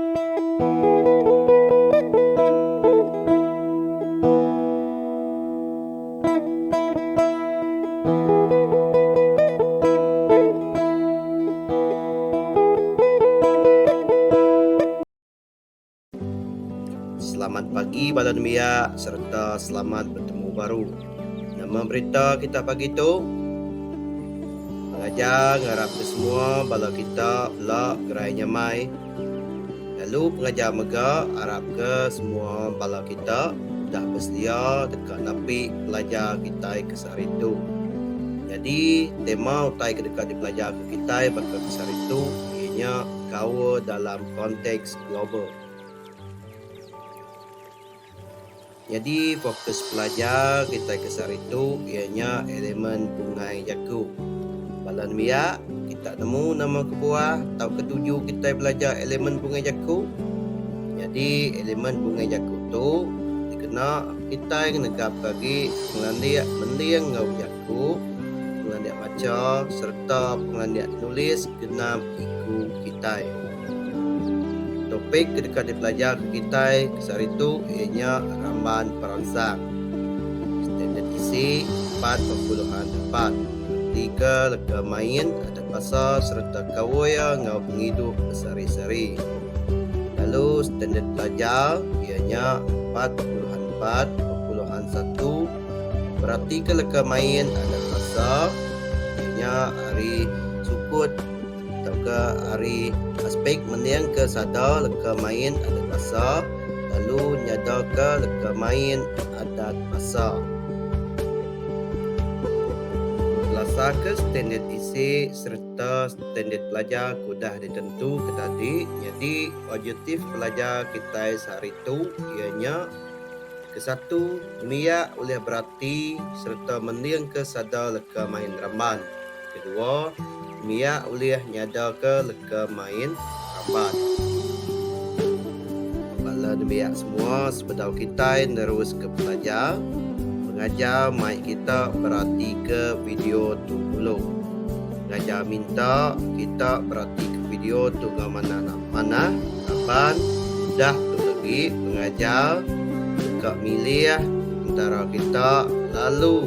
Selamat pagi bala nembiak sereta selamat bertemu baru. Nama berita kita pagi tu? Pengajar ngarap ke semua bala kita bela gerai nyamai. Lalu pengajar mega arapka semua bala kita udah besedia deka napi pelajar kitai ke sehari tu. Nyadi, tema utai ke deka dipelajarka kitai baka ke sehari tu iya nya gaul dalam konteks global. Nyadi fokus pelajar kitai ke sehari tu iya nya elemen bungai jaku. Bala nembiak, kita nemu nama kebuah tauka tuju kitai belajar elemen bungai jaku. Nyadi elemen bungai jaku tu dikena kitai ngenegapka agi pengelandik mending enggau jaku, pengelandik macha sereta pengelandik nulis genap iku kitai. Topik ke deka dipelajar ke kitai ke sehari tu iya nya Ramban Peransang, Standard Isi empat ba puluhan empat, reti ke leka main adat basa sereta kaul iya enggau pengidup besehari-sehari. Lalu standard pelajar iya nya empat ba puluhan empat ba puluhan satu, Beratika leka main adat basa iya nya ari sukut tauka ari aspek meningka sada leka main adat basa lalu nyadaka leka main adat basa. Belasaka standard isi sereta standard pelajar ke udah ditentuka tadi nyadi objektif pelajar kitai sehari tu iya nya kesatu miak ulih berati sereta meningka sada leka main ramban. Kedua, nembiak ulih nyadaka leka main ramban. Bala nembiak semua sebedau kitai neruska pelajar, pengajar mai kita beratika video tu dulu. Pengajar minta kita beratika video tu enggau manah manah laban udah tu legi pengajar deka milih entara kita lalu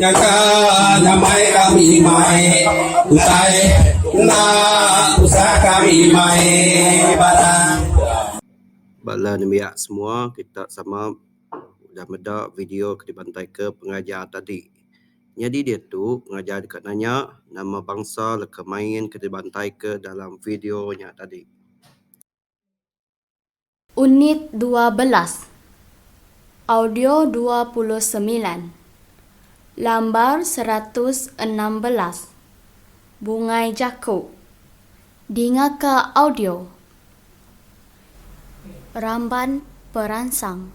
Nyangka nyamai kami mai utai enda tusah kami mai batang. Bala nembiak semua kita sama udah meda video ke dibantaika pengajar tadi. Nyadi diatu pengajar deka nanya nama bangsa leka main ke dibantaika dalam video nya tadi. Unit dua belas, Audio dua puluh semilan, Lambar seratus enam belas, Bungai Jaku, Dingaka audio Ramban Peransang.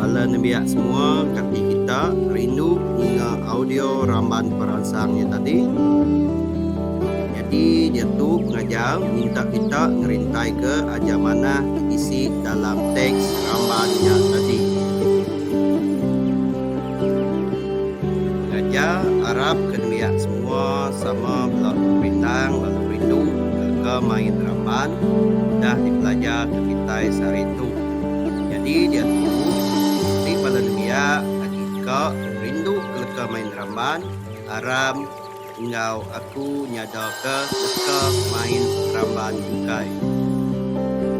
Bala nembiak semua kati kita rindu ninga audio ramban peransang nya tadi. Nyadi nya tu pengajar minta kita ngerintaika aja manah ke bisi dalam teks ramban nya tadi. Aja arap ke nuyak semua sama bela bintang lalu rindu leka main ramban udah dipelajar ke kitai sehari tu. Nyadi diatu ti bala nuyak agi ka rindu ke leka main ramban aram enggau aku nyada ke leka main ramban ukai.